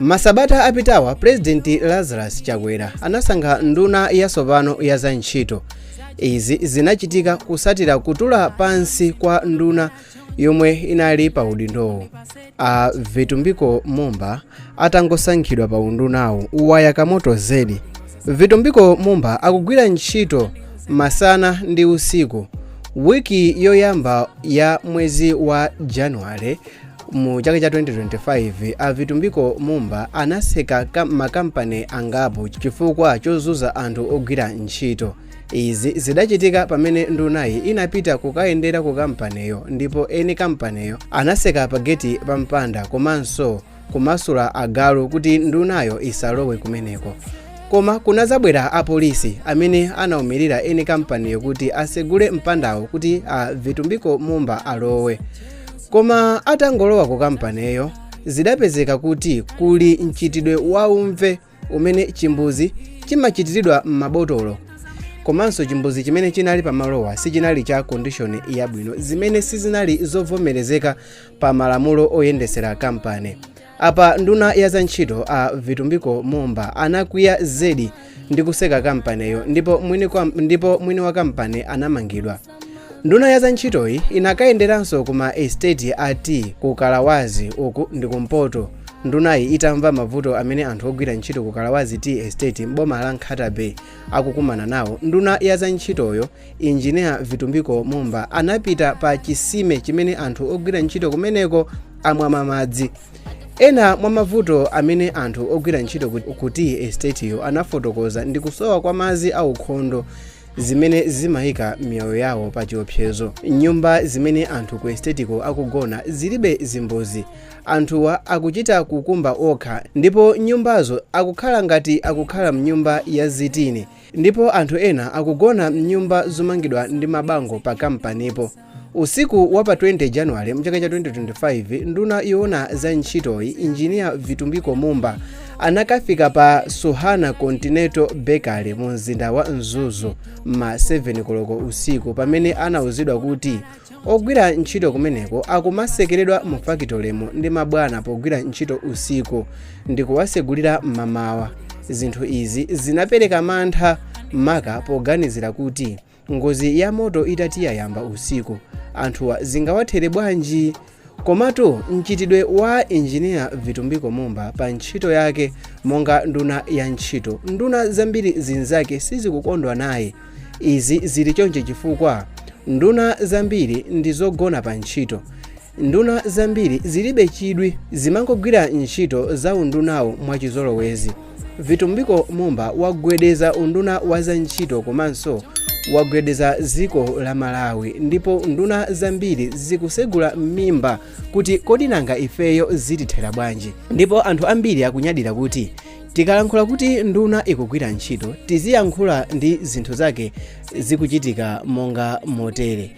masabata apitawa pulezidenti lazarus chakwera anasankha nduna yatsopano ya za ntchito izi zinachitika kutsatira kutula pansi kwa nduna yomwe inali pa udindowo a vitumbiko mumba atangosankhidwa pa undunawo wayaka moto zedi vitumbiko mumba akugwira ntchito masana ndi usiku wiki yoyamba ya mwezi wa januwale mu chaka cha 2025 a vitumbiko mumba anatseka makampani angapo chifukwa chozunza anthu ogwira ntchito izi zidachitika pamene ndunayi inapita kukayendera ku kampaniyo ndipo eni kampaniyo anatseka pageti pa mpanda komanso kumasula agalu kuti ndunayo isalowe kumeneko koma kunadzabwera apolisi amene anaumirira eni kampaniyo kuti atsegule mpandawo kuti a vitumbiko mumba alowe koma atangolowa ku kampaniyo zidapezeka kuti kuli mchitidwe waumve umene chimbuzi chimachitiridwa m'mabotolo komanso chimbuzi chimene chinali pamalowa sichinali cha kondishoni yabwino zimene sizinali zovomerezeka pa malamulo oyendetsera kampani Apa nduna ya za ntchito a Vitumbiko Mumba anakwiya zedi ndi kutseka kampaniyo ndipo mwini wa kampani anamangidwa. Nduna ya za ntchitoyi inakayenderanso kuma estate a tea ku Kawalazi uku ndi kumpoto. Ndunayi itamva mavuto amene anthu ogwira ntchito ku Kawalazi Tea Estate m'boma la Nkhata Bay akukumana nawo, nduna ya za ntchitoyo Engineer Vitumbiko Mumba anapita pa chisime chimene anthu ogwira ntchito kumeneko amamwa madzi. Ena mwa mavuto amene anthu ogwira ntchito ku tea estateyo anafotokoza ndi kusowa kwa madzi aukhondo zimene zimayika miyoyo yawo pa chiopsezo. Nyumba zimene anthu ku estetiko akugona zilibe zimbuzi. Anthuwa akuchita kukumba okha ndipo nyumbazo akukhala ngati akukhala mnyumba ya zitini Ndipo anthu ena akugona m'nyumba zomangidwa ndi mabango pa kampanipo. Usiku wa pa 20 January mchaka cha 2025, nduna yoona za ntchitoyi Engineer Vitumbiko Mumba anakafika pa Suhana Continental Bakery mu mzinda wa Mzuzu m'ma 7 koloko usiku pamene anauzidwa kuti ogwira ntchito kumeneko akumatsekeredwa mu fakitolemo ndi mabwana pogwira ntchito usiku ndi kuwatsegulira mmamawa zinthu izi zinapereka mantha maka poganizira kuti ngozi ya moto itati yayamba usiku anthuwa zingawathere bwanji Komatu mchitidwe wa Engineer Vitumbiko Mumba pa ntchito yake monga nduna ya ntchito, nduna zambiri zinzake sizikukondwa naye. Izi zili chonchi chifukwa nduna zambiri ndi zogona pa ntchito. Nduna zambiri zilibe chidwi, zimangogwira ntchito za undunawu mwachizolowezi. vitumbiko mumba wagwedeza unduna wa za ntchito komanso wagwedeza dziko la malawi ndipo nduna zambiri zikusegula m'mimba kuti kodi nanga ifeyo zitithera bwanji ndipo anthu ambiri akunyadira kuti tikalankhula kuti nduna ikugwira ntchito tiziyankhula ndi zinthu zake zikuchitika monga motere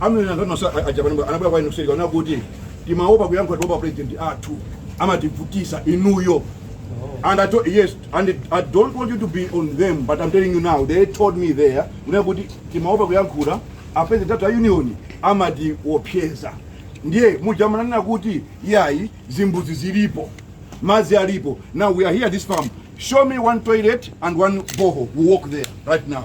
amene anthu anunso aja pajapa anabwera kwa inu kuseri kunena kuti timaopa kuyankhula tiopa a president athu amativutisa inuyo and I told, yes and it- I don't want you to be on them but I'm telling you now they told me there kunena kuti timaopa kuyankhula a president athu a union amatiopseza ndiye muja mumanena kuti yayi zimbuzi zilipo mazi alipo now we are here at this farm show me one toilet and one borehole we walk there right now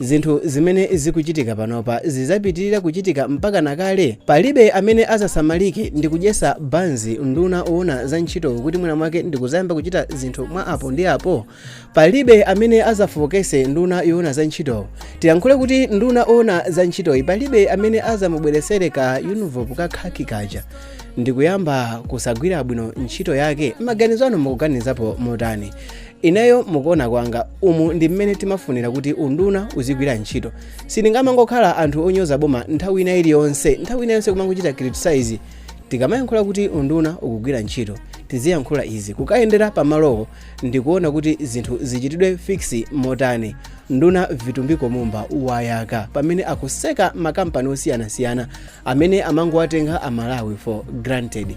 Zinthu zimene zikuchitika panopa zizapitirira kuchitika mpakana kale? Palibe amene azasamalike ndikudyesa banzi nduna owona za ntchito kuti mwina mwake ndikuzayamba kuchita zinthu mwa apo ndi apo? Palibe amene azafookese nduna yowona za ntchito? Tiyankhule kuti nduna owona za ntchitoyi palibe amene azamubweresere ka envelopu ka kaki kaja ndikuyamba kusagwira bwino ntchito yake? Maganizo anu mukuganizapo motani? ineyo mukuona kwanga umu ndi mmene timafunira kuti unduna uzigwira ntchito sitingamangokhala anthu onyoza boma nthawi ina iliyonse nthawi ina yonse kumangochita criticize tikamayankhula kuti unduna ukugwira ntchito tiziyankhula izi kukayendera pamalowo ndikuona kuti zinthu zichitidwe fix motani nduna vitumbiko mumba wayaka pamene akuseka makampani osiyanasiyana amene amangowatenga amalawi for granted